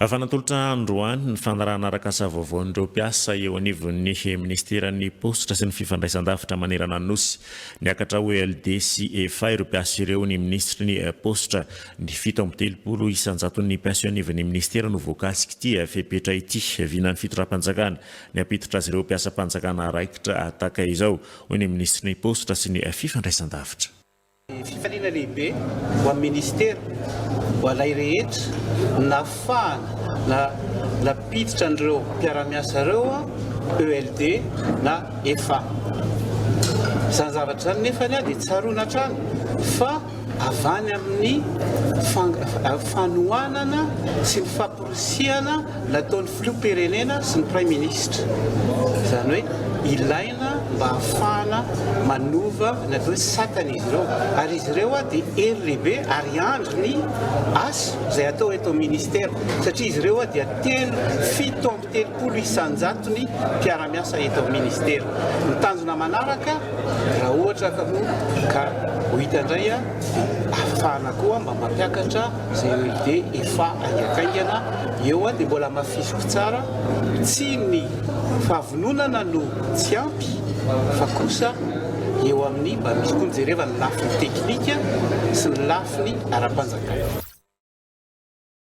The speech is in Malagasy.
Afanatolotra androany ny fanarahana arakasa vaovaon'ireo mpiasa eo anivon'ny minisiteran'ny paositra sy ny fifandraisandavitra manerana ny nosy. Niakatra ho ELD sy efa ireo mpiasa ireo ny minisitry ny paositra. Ny fito amby telopolo isan-jaton'ny mpiasa eo anivon'ny minisitera no voakasik'ity fepetra ity vinan'ny fitondram-panjakana ny hampiditra azy ireo mpiasam-panjakana raikitra tahaka izao, hoy ny minisitry ny Paositra sy ny fifandraisandavitra. Fifaliana lehibe ho an'ny minisitera, ho anay rehetra, ny nahafahana nampiditra an'ireo mpiara-miasa ireo ELD na efa. Izany zavatra izany nefa dia tsaroana hatrany fa avy any amin'ny fanohanana sy ny fampirobana. Kosehana nataon'ny Filoham-pirenena sy ny Praiminisitra. Izany hoe ilaina mba hahafahana manova ny atao hoe satana izy ireo. Ary izy ireo dia hery lehibe ary handry ny asa izay atao eto amin'ny Minisitera satria izy ireo dia telo, fito amby telopolo isan-jatony mpiara-miasa eto amin'ny Minisitera. Ny tanjona manaraka raha ohatra ka ho hita indray dia hahafahana koa mba mampiakatra Izay hoe dia efa haingankaingana eo an, dia mbola hamafisiko tsara, tsy ny fahavononana no tsy ampy fa kosa eo amin'ny mba misy koa ny jereva ny lafiny teknika sy ny lafiny ara-panjakana.